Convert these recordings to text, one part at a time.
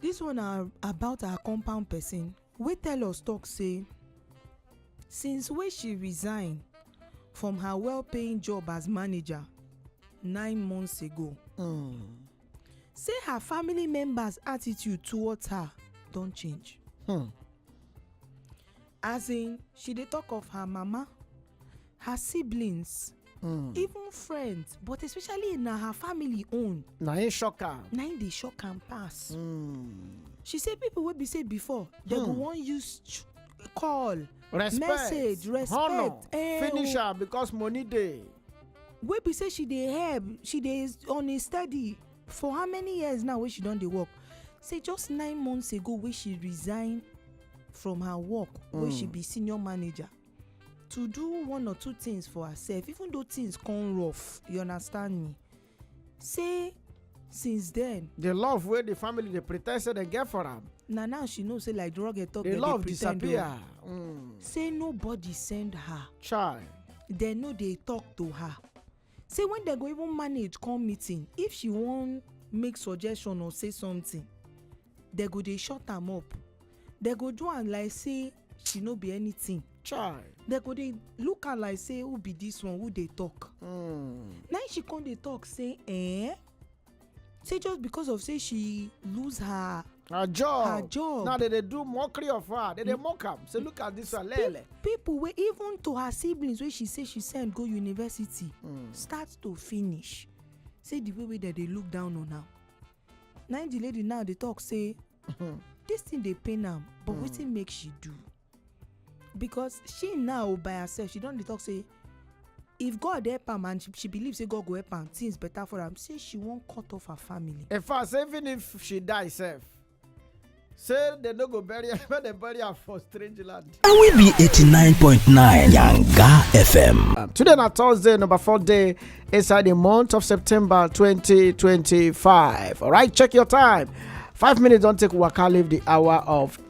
Dis one na about her compound pesin wey tell us tok say since wey she resign from her well-paying job as manager nine months ago say her family members attitude towards her don change. As in, she dey talk of her mama, her siblings, hmm. even friends, but especially na her family own. Na im shock am. Na im dey shock am pass. Hmm. She say people wey be say before, dem go hmm. wan use call respect message respect honor eh, finish her because money dey wey be say she dey help she dey on a steady for how many years now wey she don dey work say just nine months ago wey she resign from her work wey she be senior manager to do one or two things for herself even though things come rough you understand me say since then the love wey the family dey pretend say dem get for am na now she know say like drug talk the dem love dey pretend o disappear Mm, say nobody send her chai dem no dey talk to her Say when dem go even manage come meeting if she wan make suggestion or say something dem go dey shut am up dem go do am like say she no be anything chai dem go dey look am like say who be this one who dey talk hmm. na she come dey talk say eh say just because of say she lose her her job her job now they dey do mockery of her they dey mock am say look at this one lele. people wey even to her siblings wey she say she send go university hmm. start to finish say the way wey dem dey look down on am na the lady now dey talk say this thing dey pain am but hmm. wetin make she do. because she now by herself she don dey talk say if god help am and she, she believe say god go help am things better for am say she wan cut off her family in fact say even if she die sef say dem no go bury am make dem bury am for strange land. na we be 89.9 yanga fm. Um, today na thursday number four day inside the month of september 2025 alright check your time five minutes don take waka leave the hour of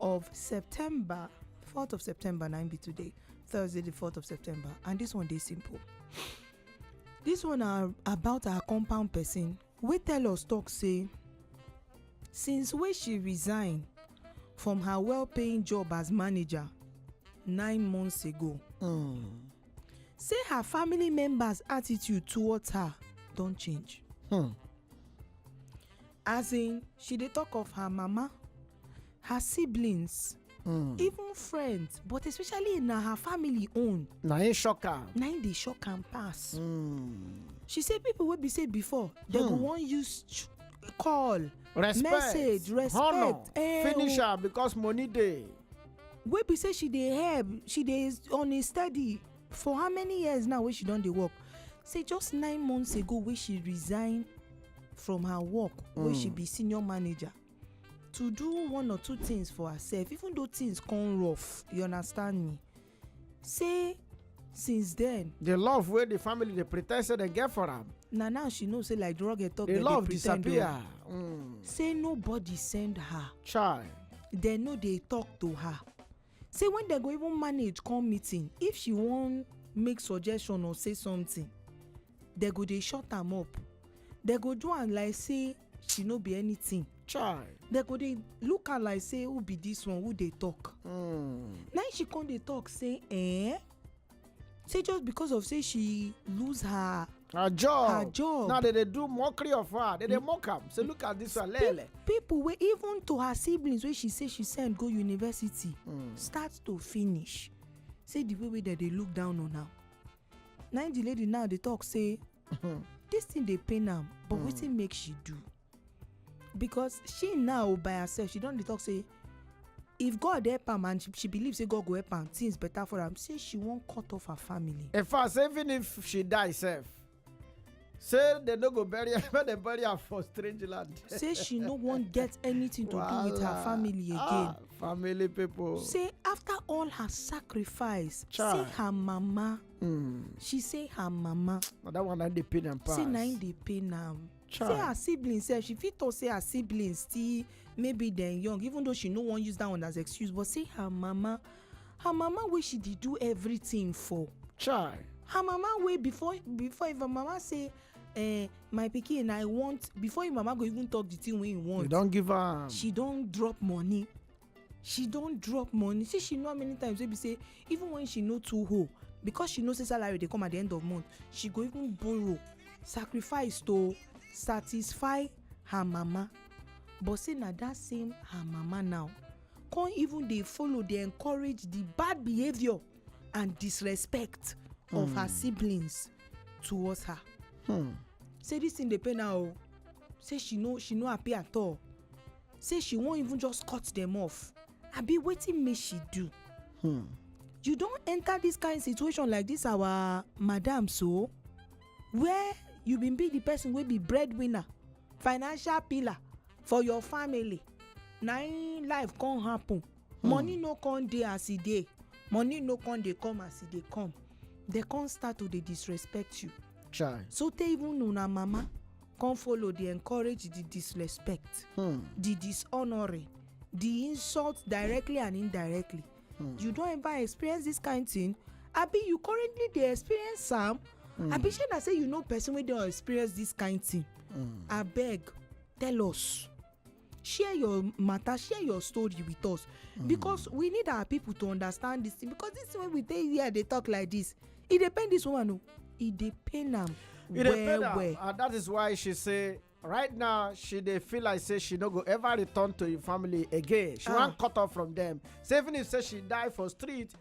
of september 4th of september na im be today thursday the 4th of september and this one dey simple this one na about our compound person wey tell us talk say since wey she resign from her well-paying job as manager nine months ago Mm. say her family members attitude towards her don change Hmm. As in, she dey talk of her mama, her siblings, mm. even friends, but especially na her family own. Na im shock am. Na im dey shock am pass. Mm. She say people wey be say before, dem mm. go hmm. wan use call, respect, message, respect, honor, eh, finish her because money dey. Wey be say she dey help, she dey on a steady for how many years now wey she don dey work say just nine months ago wey she resign from her work wey she be senior manager to do one or two things for herself even though things come rough you understand me say since then the love wey the family dey pretend say dem get for am na now she know say like drug talk the dem dey love pretend o disappear Mm, say nobody send her chai dem no dey talk to her Say when dem go even manage come meeting, if she wan make suggestion or say something, dem go dey shut am up. Dem go do am like say she no be anything. Chai. Dem go dey look am like say who be this one, who dey talk? Hmm. Na im she come dey talk say, eh? say just because of say she lose her her job her job now they dey do mockery of her they dey mock am say look at this one lele. people wey even to her siblings wey she say she send go university mm. start to finish say the way wey dem dey look down on am na the lady now dey talk say this thing dey pain am but mm. wetin make she do. because she now by herself she don dey talk say if god help am and she, she believe say god go help am things better for am say she wan cut off her family. in fact say even if she die sef say dem no go bury her make dem bury her for strange land. say she no wan get anything to do with her Wahala. family again. Ah, family people. say after all her sacrifice Chai. say her mama Mm. she say her mama na that one na dey pain am pass. say na im dey pain am so her Child. siblings sef she fit talk say her siblings still maybe dem young even though she no wan use that one as excuse but say her mama her mama wey she dey do everything for Child. her mama wey before before if her mama say eh, my pikin i want before im mama go even talk the thing wey im You want don give her. she don drop money she don drop money see she know how many times wey be say even when she no too hoe because she know say salary dey come at the end of month she go even borrow sacrifice to satisfy her mama but say na that same her mama now come even dey follow dey encourage the bad behaviour and disrespect mm. of her hmm. siblings towards her hmm. say this thing dey pain her o say she no she no happy at all say she wan even just cut dem off abi wetin make she do hmm. you don enter this kind situation like this our madam so where you bin be the person wey be breadwinner financial pillar for your family na im life come happen hmm. money no come dey as e dey money no come dey come as e dey come dey come start to dey disrespect you Chai. so tey even una mama come follow dey encourage the disrespect hmm. the dishonoring the insult directly and indirectly hmm. you don ever experience this kind thing abi you currently dey experience am hmm. abi shey na say you know person wey don experience this kind thing abeg tell us share your matter share your story with us mm. because we need our people to understand this thing because this way we dey here dey talk like this e dey pain this woman o e dey pain am well well and that is why she say right now she dey feel like say she no go ever return to im family again she ah. wan cut off from dem say even if say she die for street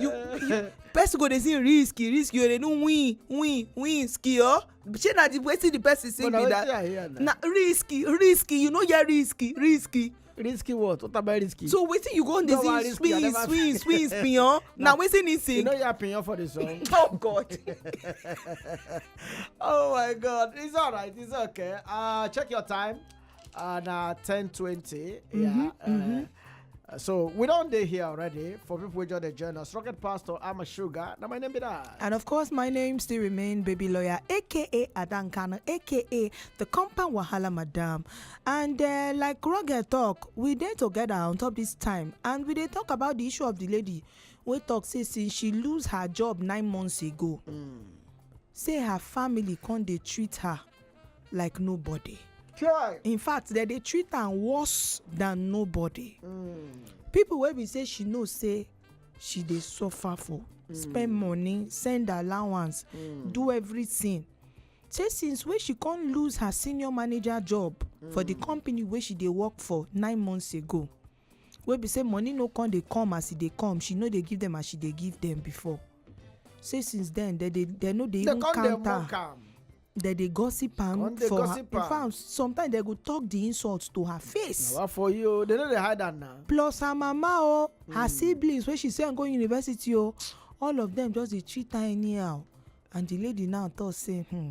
you you person go dey sing risky risky o dey do win win win ski o shey na the wetin the person sing be that na risky risky you no hear risky risky. risky what what about risky. so wetin you go dey sing swing swing swing piyan na wetin he sing. you no hear piyan for the song. oh god oh my god it's alright it's okay uh, check your time. Uh, na ten twenty. Mm-hmm, yeah. Uh, mm-hmm. Uh, so we don't day here already. For people who join the journal, Rocket Pastor, I'm a sugar. Now my name be that. And of course, my name still remain Baby Lawyer, aka Adankana, aka the Compound Wahala Madam. And uh, like Rocket talk, we dey together on top this time, and we dey talk about the issue of the lady. We talk say since she lose her job nine months ago, mm. say her family can't they treat her. like nobody Chai. in fact dem dey treat am worse than nobody Mm. people wey be say she know say she dey suffer for spend money send allowance Mm. do everything say since wey she come lose her senior manager job for the company wey she dey work for nine months ago wey be say money no come dey come as e dey come she no dey give them as she dey give them before say since then they dey they no dey even count am. they come dey mock am dem dey gossip am for her in fact sometimes dem go talk the insult to her face. na for you o dem no dey hide am na. plus her mama o her hmm. siblings wey she send go university o all of them just dey treat her anyhow and the lady now talk say hmm,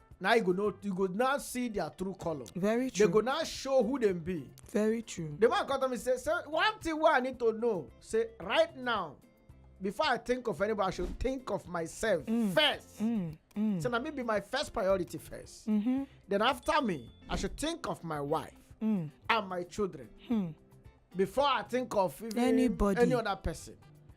now you go know you go now see their true color. very true they go now show who dem be. very true. the man come tell me say say one thing wey i need to know say right now before i think of anybody i should think of myself mm. first. Mm. Mm. so na me be my first priority 1st mm -hmm. then after me i should think of my wife mm. and my children. Mm. before i think of even anybody any other person.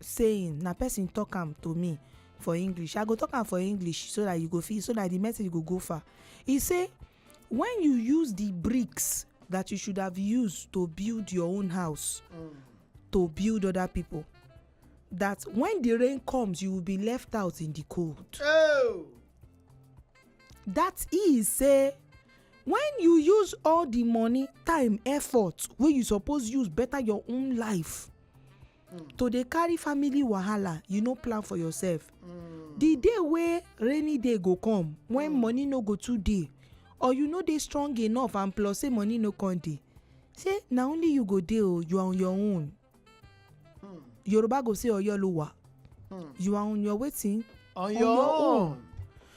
saying na person talk am to me for english i go talk am for english so that you go fit so that the message go go far e say when you use the bricks that you should have used to build your own house mm. to build other people that when the rain comes you will be left out in the cold oh. that is say when you use all the money time effort wey you suppose use better your own life mm. to dey carry family wahala you no plan for yourself mm. the day wey rainy day go come when mm. money no go too dey or you no dey strong enough and plus say money no come dey say na only you go dey o oh, you are on your own mm. yoruba go say oyo lo wa mm. you are on your wetin on, on your, your own, own.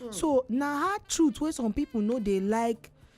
Mm. so na hard truth wey some people no dey like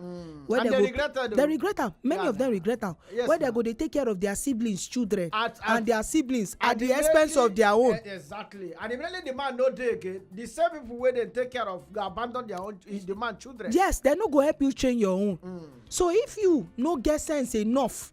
Mm. Where and they, they regret am. They regret am. Many yeah. of them regret am. Yes, where they go dey take care of their siblings, children, at, at, and their siblings at, at the, the expense of their own. Uh, exactly. And immediately the man no dey again. The same people wey dey take care of go abandon their own eh, the man children. Yes, they no go help you train your own. Mm. So if you no get sense enough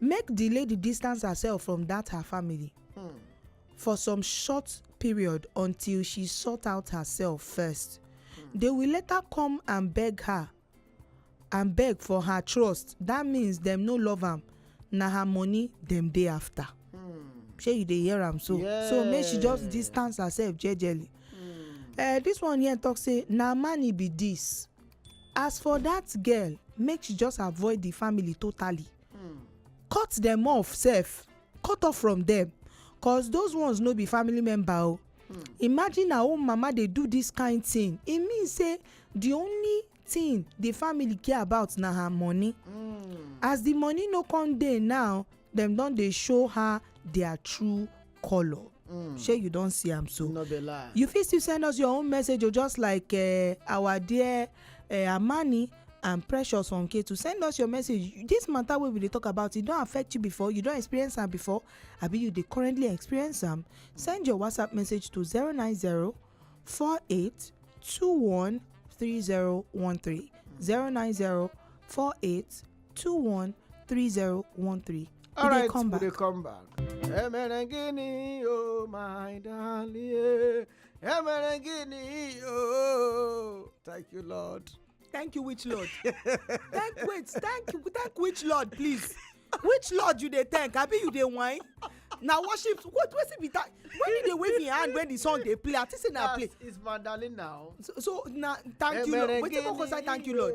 make di lady distance herself from dat her family hmm. for some short period until she sort out herself first hmm. they will later come and beg her and beg for her trust that means dem no love am na her money dem dey after hmm. shey you dey hear am so so make she just distance herself jejely hmm. eh, this one here talk say na man e be this. As for that girl make she just avoid the family totally hmm. cut them off sef cut off from them cause those ones no be family member o oh. hmm. imagine her own mama dey do this kind thing e mean say the only thing the family care about na her money hmm. as the money no come dey now dem don dey show her their true colour mm. shey you don see am so no be lie you fit still send us your own message o oh, just like uh, our dear uh, amani and precious on k to send us your message this matter wey we dey talk about e don affect you before you don experience am before abi you dey currently experience am send your whatsapp message to zero nine zero four eight two one three zero one three zero nine zero four eight 213013. All right, come back. come back. Emerengini, oh my darling. Emerengini, oh. Thank you, Lord. Thank you, which Lord? thank wait, thank you, thank which Lord, please. Which Lord you dey thank? Abi you dey whine? na worship what wetin be that when you dey wave your hand when the song dey play i think say na play. it's my darling now. so so na thank you lord wetin go concern thank you lord.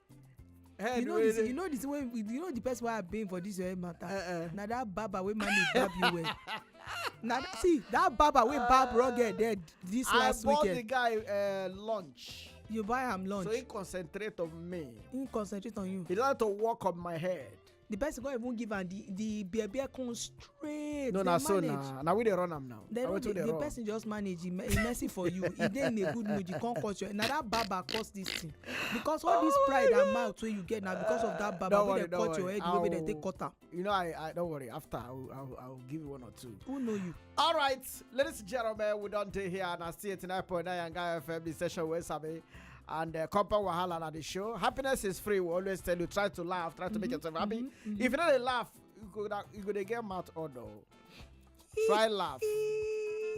head you know wey the you know the thing wey you know the person wey i been for this your head matter uh-uh. na that barber wey manage barb you well na see that barber wey barb raw girl dead this I last weekend i bought the guy uh, lunch you buy am lunch so he concentrate on me he concentrate on you he like to work on my head the person come even give am the the bear bear come straight no na so na na we dey run am now they run the, the person just manage he, he messy for you he dey in a good mood you come cause your na that barber cause this thing because all oh this pride God. and mouth wey you get na because of that barber wey dey cut your head wey dey take cut am. you know i i don't worry after i will i will, I will give you one or two. who know you. all right ladies and gentlemen we don dey here na still eighty nine point nine yanga fm the session wey sabi and uh, compound wahala na the show happiness is free we always tell you try to laugh try to mm-hmm, make yourself happy mm-hmm, mm-hmm. if you no dey laugh you go na you go dey get mouth odo try laugh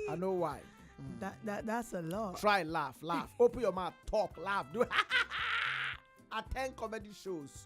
i know why. Mm. That, that that's a lot. Try laugh, laugh. Open your mouth, talk, laugh. Do attend comedy shows.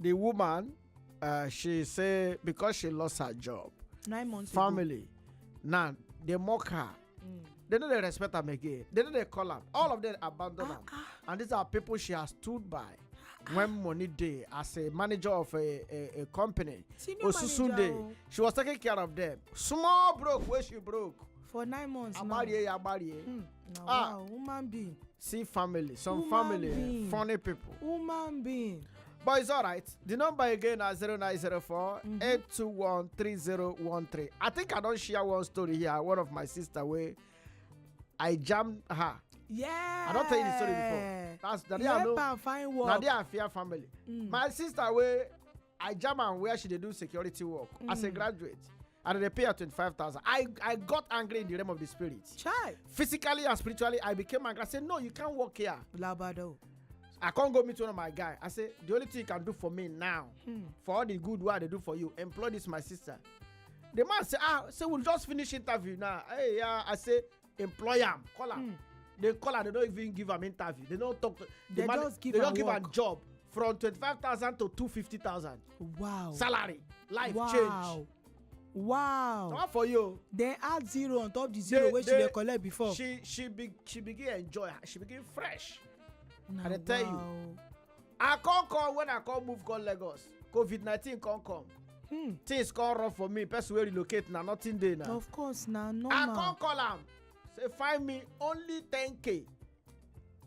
the woman uh, she say because she lost her job nine months ago. family now they mock her Mm. they no dey respect am again they no dey call am all of them abandon am and these are people she has stood by when money dey as a manager of a a, a company Senior manager osusunde o. she was taking care of them small broke wey she broke for nine months now. agbárí ẹ agbárí ẹ na ah. wow woman being see family some woman family being. funny people woman being but it's alright the number again na 0904 mm-hmm. 821 3013 i think i don share one story here one of my sister wey i jam her yeah i don tell you the story before that's na there i know na there i fear family mm. my sister wey i jam am where she dey do security work as a hmm. graduate and i dey pay her twenty-five thousand i i got angry in the realm of the spirit chai physically and spiritually i became angry i say no you can't work here labado i come go meet one of my guy i say the only thing you can do for me now hmm. for all the good wey i dey do for you employ this my sister the man say ah say we just finish interview now hey yeah i say employ am call am mm. they call am they no even give am interview they no talk to they man, just give they am give am job from twenty-five thousand to two fifty thousand. wow salary life wow. change. wow not for you. dem add zero on top the zero wey she dey collect before. she she be she begin enjoy she begin fresh. na wow i dey tell you i come come when i come move come lagos covid nineteen come come hmm. things come rough for me person wey relocate na nothing dey na of course na normal i come call am say find me only ten k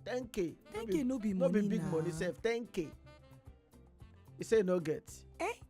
ten k ten k no be money na no be big money sef ten k he say no get eh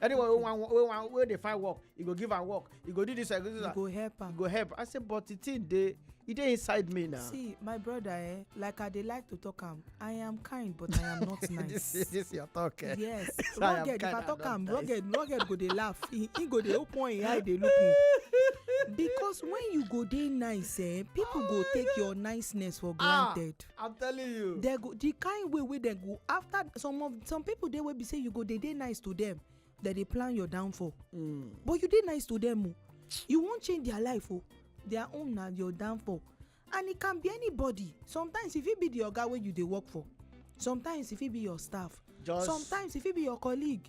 anyone wey wan wey wan wey dey find work e go give am work e go do this e go do that e go help am e go help i say but the thing dey e dey inside me now. see my brother eh like i dey like to talk am i am kind but i am not nice. this this your talk eh. yes rugged if i talk am rugged rugged go dey laugh he he go dey open him eye dey look me because when you go dey nice eh people go take your niceness for ah. granted. i'm telling you they go the kind way wey dem go after some of some people dey wey be say you go dey dey nice to them dem dey plan your downfall mm. but you dey nice to them o oh. you wan change their life o oh. their own na your downfall and e can be anybody sometimes e fit be the oga wey you dey work for sometimes e fit be your staff just sometimes e fit be your colleague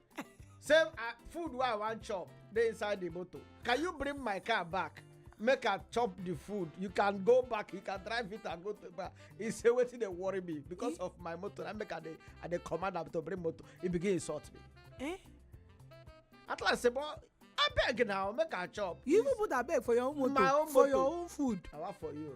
say uh, food wey i wan chop dey inside the motor can you bring my car back make i chop the food you can go back you can drive it and go to back he say wetin dey worry me because eh? of my motor na make i dey i dey command am to bring motor he begin insult me. Eh? at last say but abeg now make i chop. you even put abeg for your own motor my own for motor. your own food. na wa for you.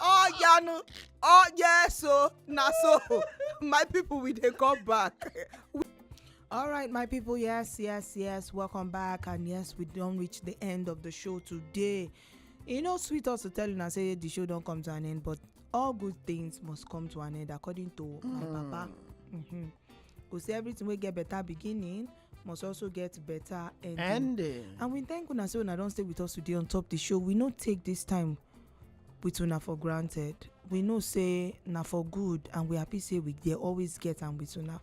oh yeah no oh yeah so na so my people we dey come back. All right, my people. Yes, yes, yes. Welcome back, and yes, we don't reach the end of the show today. You know, sweet us to tell you, I say the show don't come to an end, but all good things must come to an end, according to my papa. Mm-hmm. Go see everything we get better beginning. must also get better ending. ending. And we thank una say una don stay with us today on top the show. We no take this time with una for granted. We know say na for good and we happy say we dey always get am with una.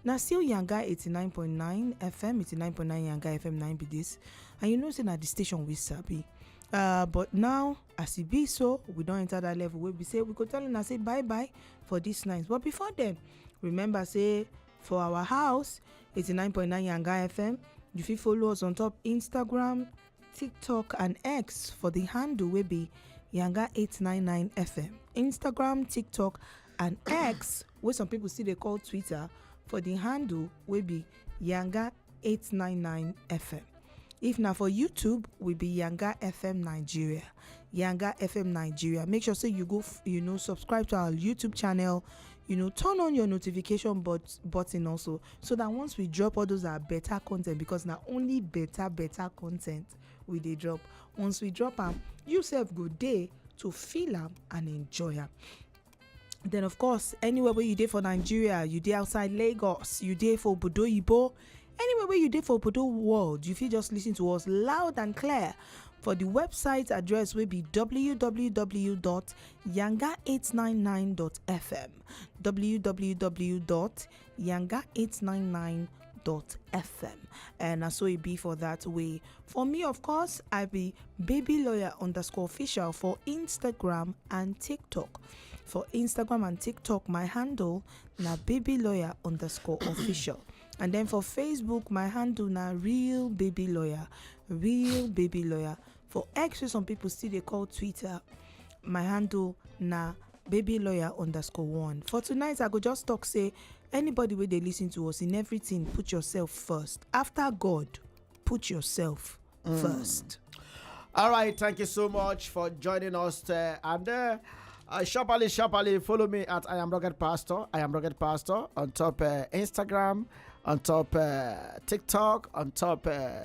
Na still Yanga 89.9 FM, 89.9 Yanga FM 9 be this. And you know say na the station we sabi. Uh, but now as e be so we don enter that level wey be say we go tell una say bye bye for this night but before then remember say for our house 89.9 Yanga FM. You fit follow us on top Instagram, TikTok and X for the handle wey be Yanga 899 FM. Instagram, TikTok and X wey some people still dey call Twitter for the handle wey be Yanga 899 FM. If na for YouTube, we be Yanga FM Nigeria. Yanga FM Nigeria. Make sure say you go, f- you know, subscribe to our YouTube channel. You know, turn on your notification but button also, so that once we drop all those are better content because na only better better content we dey drop. Once we drop am, you sef go dey to feel am and enjoy am. then of course anywhere wey you dey for nigeria you dey outside lagos you dey for obodo oyibo anywhere wey you dey for obodo world you fit just listen to us loud and clear for the website address wey be www.yanga899.fm www yanga 899 dot fm and na so e be for that way for me of course i be baby lawyer underscore official for instagram and tiktok for instagram and tiktok my handle na baby lawyer underscore official and then for facebook my handle na real baby lawyer real baby lawyer for x wey some people still dey call twitter my handle na baby lawyer underscore one for tonight i go just talk say anybody wey dey listen to us in everything put yourself first after god put yourself first All right, thank you so much for joining us. There. And uh, uh, sharply, sharply, follow me at I am Rugged Pastor. I am Rugged Pastor on top uh, Instagram, on top uh, TikTok, on top uh,